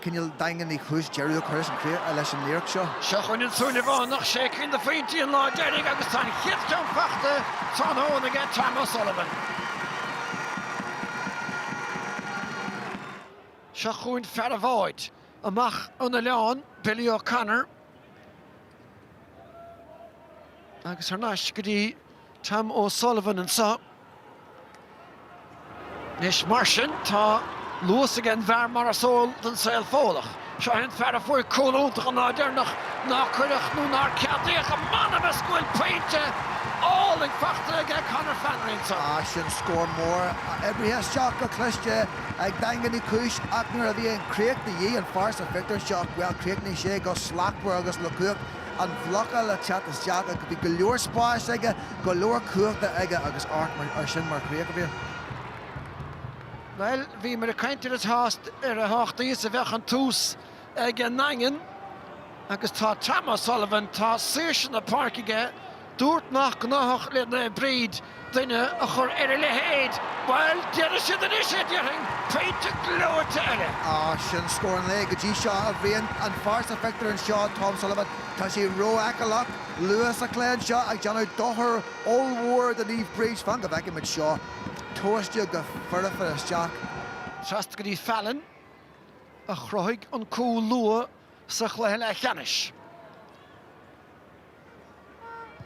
Cineál daingniú cúis deireadh a chuireas an chríoch leis an iarracht seo. Seo chugainn an Súilleabhánach, sé cinn de phointí an lá deiridh agus tá an chéad cheann faighte tráthnóna aige, Tom O'Sullivan. Seo chugainn fear an bháid, amach ón oileán, Billy O'Connor. Agus thar n-ais go dtí Tom O'Sullivan anseo. Anois mar sin, tá luas ag an bhfear mar is eol don saol Fódhlach. Seo é an fear a fuair cúl iontach an lá deireanach nár cuireadh nó nár ceadaíodh. M'anam is go bhfuil pointe álainn faighte aige Conor Flannery anseo. Ach sin scór mór oibrithe isteach go cliste. ag daingniú cúis ach nuair a bhíonn críoch de dhíth an fear sa phictiúr anseo, bhuel, críochnaíonn sé go slachtmhar agus le cumhacht an bhlocáil le teacht isteach ach bhí go leor spáis aige, go leor cumhachta aige agus amharc ar sin mar chríoch a Bhriain. Bhuel, bhíomar ag caint ar a shásta, ar a thábhachtaí is a bheadh an tús ag an nDaingean agus tá Tom O'Sullivan, tá saoirse na páirce aige, dúirt nach gnáthach le Naomh Bríd duine a chur ar a leithéid. Bhuel, déanfaidh siad anois é, déarfainn! Pointe gleoite eile. Sin scór an lae go dtí seo, a Bhriain. An fear sa phictiúr anseo, Tom Sullivan, tá sé rófheiceálach luath sa chluiche anseo ag déanamh dochar ollmhór do Naomh Bríd. Fan go bhfeicfidh muid seo. Tomhaiste go foirfe isteach. Trasna go dtí Fallon. a chruthaigh an cúl luath sa chluiche leathcheannais.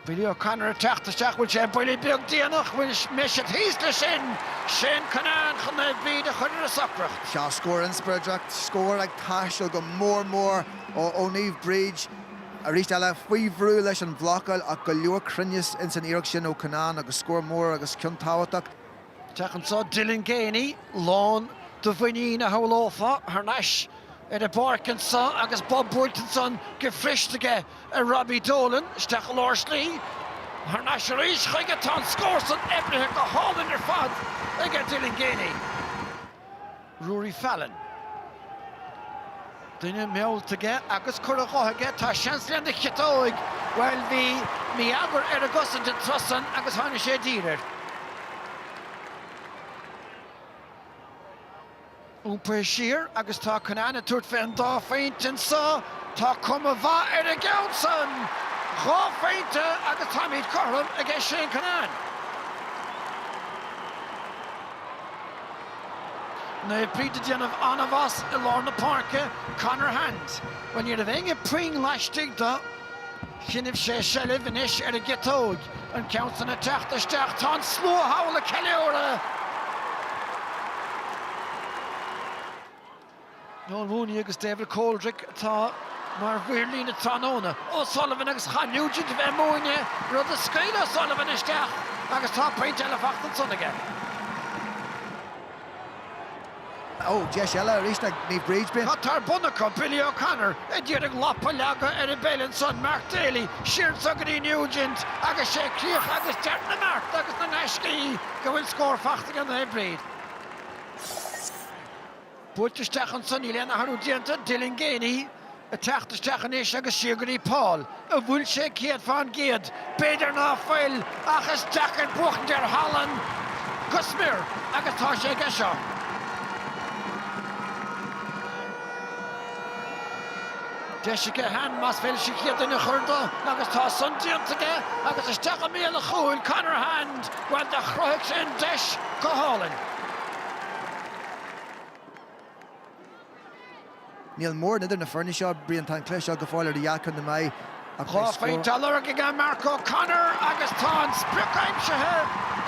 Billy O'Connor ag teacht isteach, bhuail sé buille beag déanach, bhuail Meshett thíos leis sin! Shane Cunnane chun Naomh Bríd a chur ar a socracht. Sea scór inspioráideach, scór ag teastáil go mór mór ó Naomh Bríd. Arís eile, faoi bhrú leis an bhlocáil ach go leor cruinnis insan iarracht sin ó Cunnane agus scór mór agus ceann tábhachtach. Féach anseo Dylan Geaney lán de mhuinín a shamhlófá thar n-ais ar an bpáirc anseo agus bob buailte ansan go paiteanta aige ar Robbie Dolan. Isteach i lár slí. Thar n-ais arís chuige. Tá an scór san oibrithe isteach go hálainn ar fad aige Dylan Geaney. Ruairí Fallon. Duine meallta aige agus curtha dá dhroim aige, tá seans lena chiotóig! Bhuel, bhí mí-eagar ar an gcosaint an tráth san agus tháinig sé i dtír air. Iompaithe siar agus tá Cunnane ag tabhairt fé an dá phointe anso, tá cuma mhaith ar an gceann san! Dhá phointe agus táimid cothrom aige Shane Cunnane. Naomh Bríd ag déanamh an-mhaith i lár na páirce, Conor Hand. Bhuel, ní raibh éinne puinn laistigh de. Choinnigh sé seilbh anois ar an gciotóg, an ceann san ag teacht isteach, tá an slua thall ag ceiliúradh! Noel Mooney agus David Coldrick atá mar mhaoir líne tráthnóna. O'Sullivan agus chaith Nugent a bheith múinte, rud a scaoil O'Sullivan isteach agus tá pointe eile fachta ansan aige. Ó, deis eile arís ag Naomh Bríd Binn. Tá tor bun acu, Billy O'Connor ag iarraidh lapa a leagadh ar an bpeil ansan, Mark Daly siar anso go dtí Nugent agus sé críoch agus deireadh na mbeart agus na ngaiscí go bhfuil scór fachta aige Naomh Bríd. Buailte isteach anso, níl aon athrú déanta, Dylan Geaney ag teacht isteach anois agus siar go dtí Paul an bhfuil sé céad fán gcéad b'fhéidir ná fuil ach is deacair buachtaint ar thallann go smior agus tá sé aige seo. Deis aige Hand más féidir leis an chéad duine a chur de agus tá san déanta aige agus isteach i mbéal an chúil, Conor Hand, bhuel do chruthaigh sé an deis go hálainn. Níl móran idir na foirne seo, Brian, tá an cluiche seo go fóill idir dhá cheann na meá ach beidh scór. Dhá phointe á lorg ag Mark O'Connor agus tá an sprioc aimsithe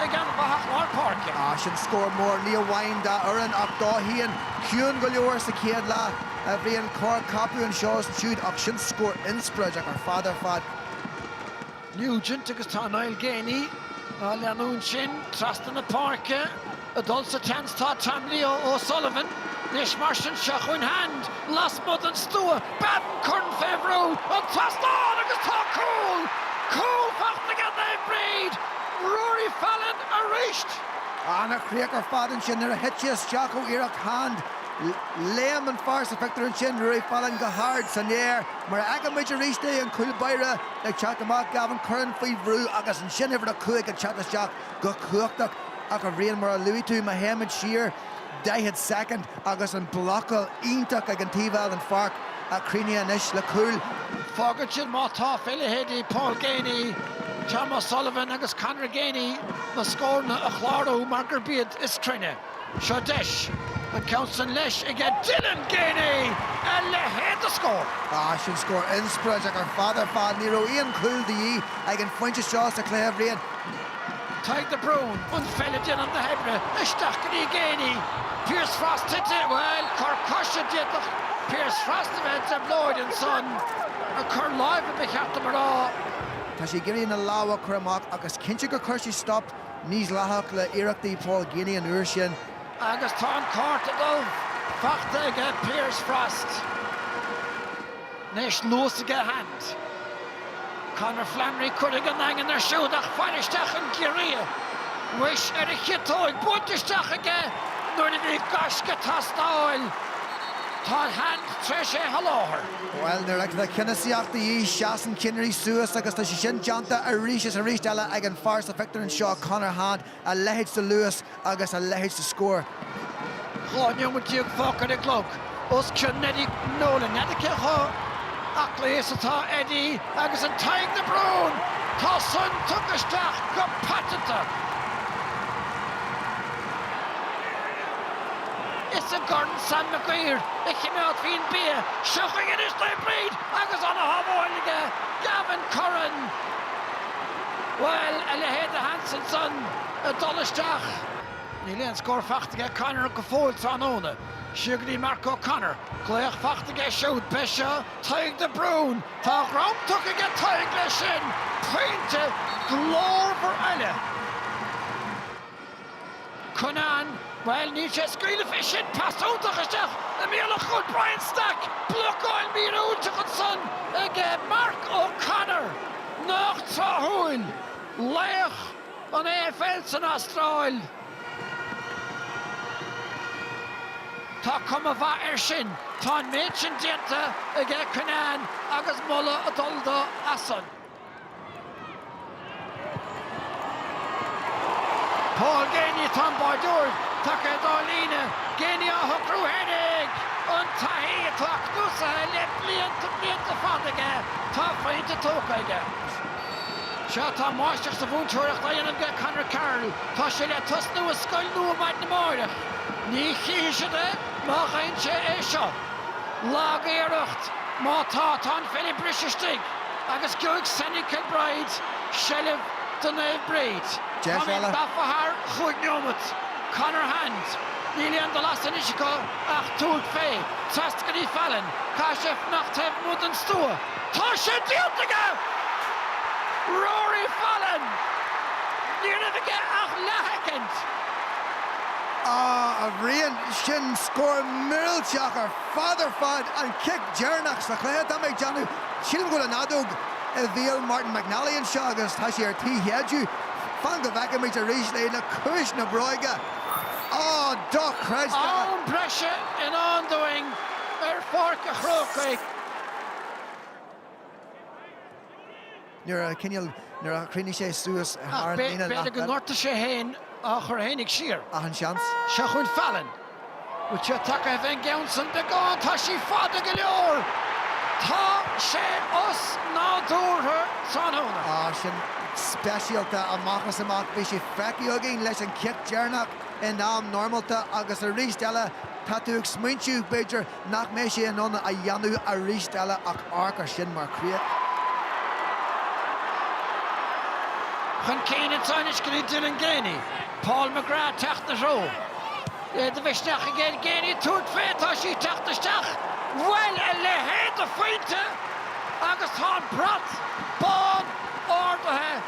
ag an bhfathach lár páirce. Ah, sin scór mór, ní amháin dá fhoireann ach dó féin. Ciúin go leor sa chéad leath, bhí an corrcheapadh anseo is ansiúd ach sin scór inspioráideach ar fad ar fad. Nugent agus tá Niall Geaney á leanúint sin trasna na páirce. Ag dul sa tseans tá Tom Leo O'Sullivan. Anois mar sin seo chugainn Hand, lasmuigh den stua, beagán, Curran fé bhrú an trasnán agus tá cúl, cúl fachta aige Naomh Bríd, Ruairí Fallon aríst. An-chríoch ar fad ansin nuair a thit sé isteach ó iarracht Hand. Léim an fear sa phictiúr ansin, Ruairí Fallon go hard san aer. Mar a fheicimid aríst é, an cúl báire. Ag teacht amach, Gavin Curran faoi bhrú agus ansin uimhir a 5 ag teacht isteach go cumhachtach ach, a Bhriain, mar a luaigh tú, má théimid siar 40 soicind agus an blocáil iontach ag an taobh eile den pháirc a chríochnaíonn anois le cúl. Fágann sin má tá fé leithéidí Paul Geaney, Tom O'Sullivan agus Conor Geaney na scóranna a chlárú mar gurb iad is cruinne. Seo deis, an ceann san leis aige Dylan Geaney! A leithéid de scór! Ah, sin scór inspioráideach ar fad ar fad. Ní raibh aon chúl de dhíth ag an phointe seo sa chluiche, a Bhriain. Tadhg de Brún, an pheil ag déanamh na hoibre, isteach go dtí Geaney. Pearse Frost tite, bhuel, cor coise, d'fhéadfadh Pearse Frost a bheith i dtrioblóid ansan. Ah, cor láimhe, ba cheart dom a rá. Tá sé ag iarraidh na lámha a chur amach ach is cinnte gur chuir sé stop. Mídhleathach le hiarrachtaí Paul Geaney an uair sin. Agus tá an cárta dubh fachta aige Pearse Frost, anois luas aige Hand, Conor Flannery curtha aige an Daingean air siúd ach fáil isteach ag iarraidh a bheith ar a chiotóg buailte isteach aige nuair a bhí gaisce ag teastáil Tá Hand tar éis é a sholáthar. Bhuel, nuair a bheidh ceannasaíocht de dhíth, seasann cinnirí suas agus tá sé sin déanta arís is arís eile ag an fear sa phictiúr anseo, Conor Hand, a leithéid de luas agus a leithéid de scór. Dhá nóimead déag fágtha ar an gclog os cionn Eddie Nolan. N'fheadar cé chomh aclaí is atá Eddie agus an Tadhg de Brún! Tá san tugtha isteach go paiteanta! Is i gCorn Sam Mac Uidhir a chimeádfaí an bia. Seo chuige anois Naomh Bríd agus ana-shábháil aige Gavin Curran! Bhuel, a leithéid de sheans ansan ag dul isteach. Níl aon scór fachta aige Conor go fóill tráthnóna. Siar go dtí Mark O'Connor. Glaoch fachta aige siúd. B'é seo Tadhg de Brún. Tá a dhrom tugtha aige Tadhg leis sin. Pointe glórmhar eile. Cunnane, Bhuel, níl sé ag scaoileadh fé sin, pas iontach isteach i mbéal an chúil Brian Stack, blocáil míorúilteach ansan ag Mark O'Connor. Nách tráthúil, laoch an AFL san Astráil. Tá cuma mhaith air sin, tá an méid sin déanta aige Cunnane agus moladh ag dul do as san. Paul Geaney, Tá an báireoir tagtha dá líne. Geaney á shocrú féinig an taithí atá cnuasaithe le blianta blianta fada aige, tá pointe tógtha aige. Sea, tá máistreacht sa mhúinteoireacht á dhéanamh aige Conor Carroll. Tá sé le tosnú i scoil nua maidin amáireach. Ní chífidh siad é má dheineann sé é seo. Lagiarracht, má tá, tá an pheil briste istigh agus geobhaidh Senan Kilbride seilbh do Naomh Bríd. Táimid gafa thar chúig neomat. Conor Hand, Níl aon dul as anois acu ach tabhairt fé. Trasna go dtí Fallon. Caithfidh sé fanacht taobh amuigh den stua. Tá sé déanta aige! Rory Fallon! Ní raibh aige ach leathshoicind! Á, a Bhriain! Sin scór millteach ar fad ar fad, an cic deireanach sa chluiche, tá mé ag déanamh, sílim go bhfuil an fheadóg i mbéal Martin McNally anseo agus tá sé ar tí a shéideadh. Fan go bhfeicfimid arís é le ciumhais na bróige. Á, dochreidte! Am breise i ndán dúinn ar Pháirc a' Chrócaigh. nuair a cineál, nuair a chríochnaigh sé suas thar an líne leath bealaigh. Ach b'fhéidir gur ghortaigh sé é féin á chur fhéinig siar. Ach an seans? Seo chugainn Fallon. Bhfuil sé tagtha fé an gceann san? Beagán. Tá sí fada go leor. Tá sé osnádúrtha tráthnóna. Á, sin speisialta. Amach is amach. Bhí sé feicthe againn leis an cic deireanach in am normálta agus arís eile tá tú ag smaointiú, b'fhéidir, nach mbeidh sé in ann a dhéanamh arís eile ach amharc air sin mar chríoch. Chun cinn an t-am so go dtí Dylan Geaney, Paul McGrath ag teacht ina threo. É de mhisneach aige Geaney tabhairt fé, tá sí ag teacht isteach. Bhuel, a leithéid de phointe agus tá an brat bán ardaithe.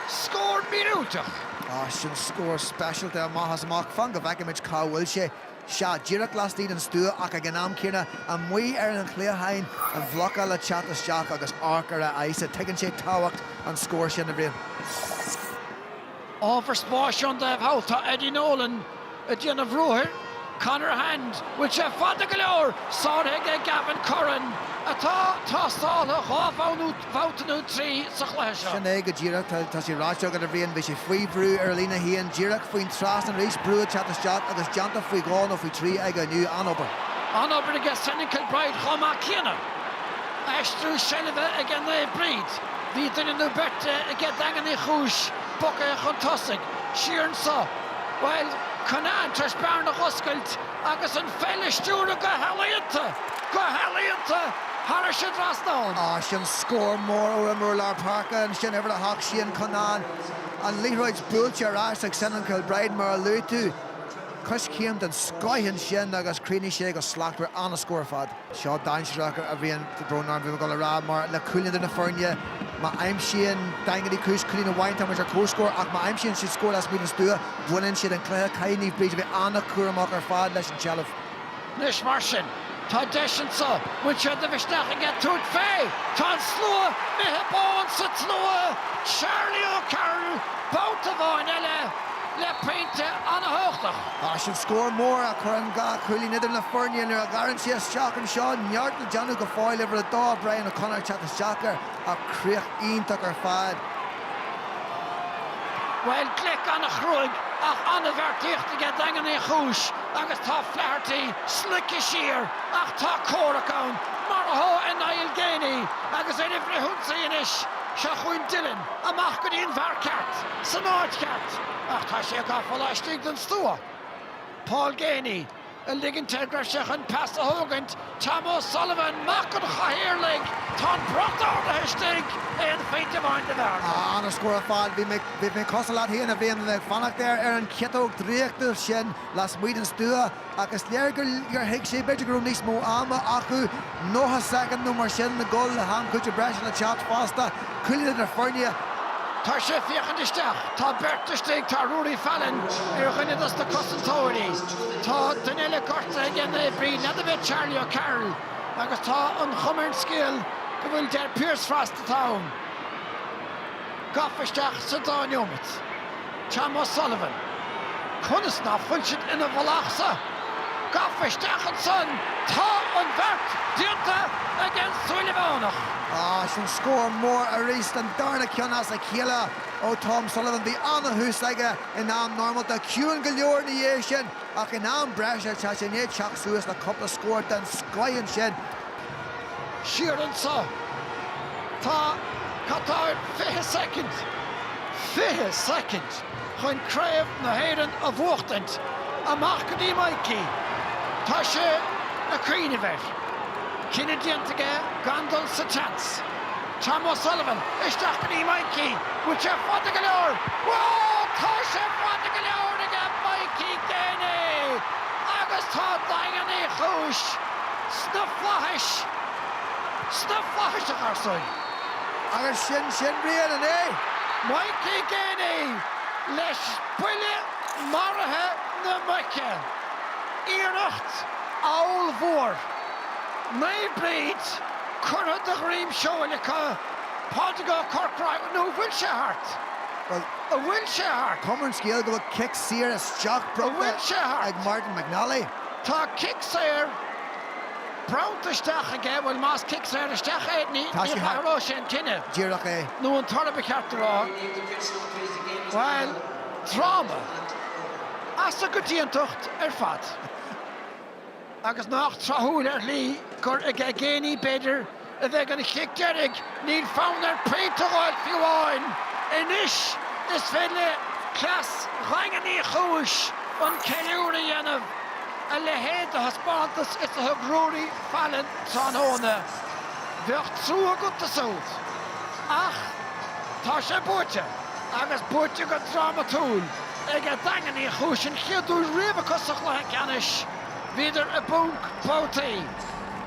Scór míorúilteach. Á, sin scór speisialta. Amach is amach. Fan go bhfeicimid cá bhfuil sé. sea, díreach laistigh den stua ach ag an am céanna amuigh ar an chliathán, an bhlocáil ag teacht isteach agus amharc ar a aghaidhsa, tuigeann sé tábhacht an scóir sin, a Bhriain. Ábhar spáis ann dóibh thall tá Eddie Nolan ag déanamh ruathair, Conor Hand, bhfuil sé fada go leor? sáraithe ag Gavin Curran, atá tástáilte dhá bhabhta. bhabhta nó trí sa chluiche seo. Sin é go díreach. Tá, tá sé ráite agat, a Bhriain. Bhí sé faoi bhrú ar a líne féin, díreach faoin trasnán arís, brú ag teacht isteach agus déanta faoi dhó nó faoi thrí aige inniu. An-obair. An-obair aige Senan Kilbride chomh maith céanna. Aistriú seilbhe aige Naomh Bríd. Bhí duine nó beirt aige Daingean Uí Chúis, bogtha chun tosaigh. Siar anso. Bhuel, Cunnane tar éis bearna a dh'oscailt. agus an pheil a stiúradh go healaíonta, go healaíonta thairis an dtrasnán. Á, sin scór mór ón imreoir lár páirce, ansin uimhir a hocht Shane Cunnane, an liathróid buailte ar ais ag Senan Kilbride mar a luaigh tú, coiscéim den scoith ansin agus chríochnaigh sé go slachtmhar, an-scór ar fad. Seo dainséarach a Bhriain, ar ndóigh, bhí mé ag dul a rá mar le cúilín idir na foirne má aimsíonn Daingean Uí Chúis cúilín amháin táimid ar comhscór ach má aimsíonn siad scór lasmuigh den stua baineann siad an cluiche. Caithfidh Naomh Bríd a bheith an-chúramach ar fad leis an tseilbh. Anois mar sin, tá deis anseo, bhfuil sé de mhisneach aige tabhairt fé? Tá an slua imithe bán sa tslua, Charlie O'Carroll babhta amháin eile. le pointe an-chumhachtach. Á, sin scór mór a chuireann dhá chúilín idir na foirne nuair a ghearrann sé isteach anseo. Neart le déanamh go fóill, uimhir a dó, Brian O'Connor, teacht isteach air ach críoch iontach ar fad. Bhuel, gleic an-chruaidh ach an-bheartaíocht aige Daingean Uí Chúis agus tá Flaherty slogtha siar ach tá comhrac ann mar atá i Niall Geaney agus ar aghaidh chun ionsaí anois. Seo chugainn Dylan. amach go dtí an bhfear ceart san áit cheart ach tá sé gafa laistigh den stua. Paul Geaney ag ligint air go raibh sé chun pas a thógaint, Tom O'Sullivan, mac an chathaoirligh, tá an brat ardaithe istigh, aon phointe amháin de bhearna. An-scór ar fad. Bhí mé cosúil leat féin a Bhriain, ag fanacht ar an chiotóg draíochtúil sin lasmuigh den stua. ach is léir gur thuig sé, b'fhéidir, go raibh níos mó ama acu, nócha soicind nó mar sin, le dhul le ham cúitimh breise le teacht fosta, cúilín idir na foirne. Tá sé ag féachaint isteach. Tá beirt istigh. Tá Ruairí Fallon ar dhuine dos na cosantóirí. Tá duine eile gortaithe aige Naomh Bríd, n'fheadar b'fhéidir Charlie O'Carroll, agus tá an chuma ar an scéal go bhfuil gur Pearse Frost atá ann. gafa isteach sa dá neomat. Tom O'Sullivan, conas ná fuil siad ina mhullach san? Gafa isteach ansan, tá an beart déanta ag an Súilleabhánach. Is sin scór mór aríst an darna ceann as a chéile ó Tom Sullivan. Bhí an-thús aige in am normálta, ciúin go leor ina dhiaidh sin, ach in am breise tá sé i ndiaidh teacht suas le cúpla scór den scoith ansin. Siar anseo. Tá, cad tá air, fiche soicind, fiche soicind chun Craobh na hÉireann a bhuachtaint. Amach go dtí Mikey. Tá sé ag cuimhneamh air. Cinneadh déanta aige gan dul sa tseans. Tom O'Sullivan, isteach go dtí Mikey. Bhfuil sé fada go leor? Bhuel! Tá sé fada go leor aige Mikey Geaney! Agus tá Daingean Uí Chúis. sna flaithis, sna flaithis a gharsúin. Agus sin sin, Brian, an é? Mikey Geaney leis buille maraithe na muice. Iarracht ollmhór. Naomh Bríd curtha de dhroim seoil acu, i bPáirc an Chrócaigh, nó an bhfuil sé thart? Bhuel, An bhfuil sé thart? cuma ar an scéal go bhfuil cic saor isteach bronnta ag Martin McNally. Tá cic saor bronnta isteach aige, bhuel más cic saor isteach é, ní athróidh sé an cinneadh. Díreach é. Nó an toradh ba cheart a rá. Bhuel, dráma as an gcoitiantacht ar fad. Agus nach tráthúil ar shlí gur aige Geaney, b'fhéidir, a bheidh an cic deiridh, níl fonn air pointe a dh'fháil fiú amháin. Anois is féidir le cleas Dhaingean Uí Chúis an ceiliúradh a dhéanamh, a leithéid de thaispeántas is a thug Ruairí Fallon tráthnóna. Bheadh trua agat dó siúd. Ach tá sé buaite, agus buaite go drámatúil, aige Daingean Uí Chúis an chéad uair riamh acu sa chluiche ceannais. Bhíodar i bponc babhtaí.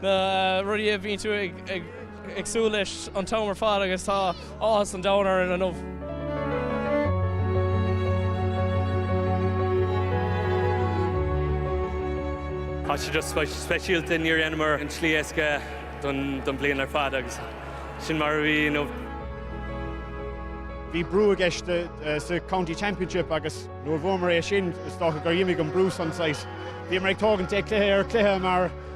Na rudaí a bhíonn tú ag súil leis an t-am ar fad agus tá áthas an domhain orainn inniu. Tá sé just speisialta, níor dheineamar an tslí éasca don bhliain ar fad agus sin mar a bhí, you know. Bhí brú i gceist sa County Championship agus nuair a bhuamar é sin, is dócha gur dh'imigh an brú san saghas. Bhíomar ag tógaint é cluiche ar chluiche mar.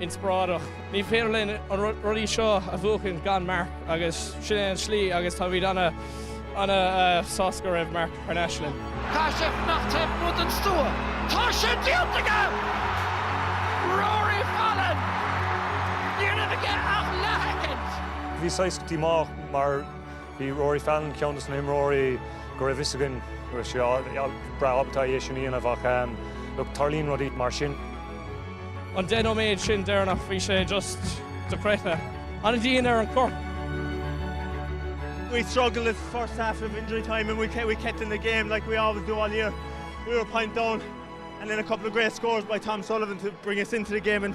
inspioráideach. Ní féidir linn an rudaí seo a bhuachan gan Mark agus sin é an tslí agus táimid ana sásta go raibh Mark thar n-ais linn. Caithfidh sé fanacht taobh amuigh den stua. Tá sé déanta aige! Ruaidhrí Fallon! Ní raibh aige ach leathsheicind! Bhí saghas go dtí má mar. Bhí Ruaidhrí Fallon, ceann de na himreoirí go raibh a fhios againn go raibh sé breá ábalta é sin a dhéanamh ach look tarlaíonn rudaí mar sin. An 10 nóiméad sin deireanach bhí sé just dochreidte. An-dian ar an chorp. We struggled this first half of injury time and we kept, we kept in the game like we always do all year. We were a point down and then a couple of great scores by Tom Sullivan to bring us into the game and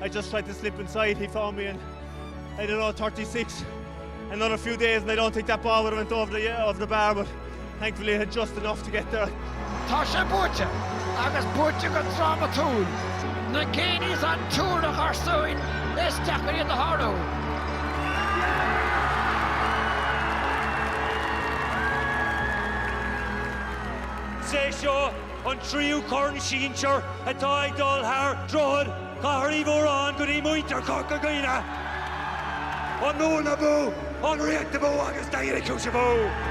I just tried to slip inside, he found me and I don't know, thirty six, another few days and I don't think that ball would have went over the over the bar but thankfully it had just enough to get there. Tá sé buaite, agus buaite go drámatúil. Na géiní san Túr a Gharsúin, is deacair iad a shárú. Is é seo An tríú corn sinsear atá ag dul thar Droichead Chathair Uí Mhóráin go dtí muintir Chorca Dhuibhne. An Mhumhain abú! An Ríocht abú agus Daingean Uí Chúis abú!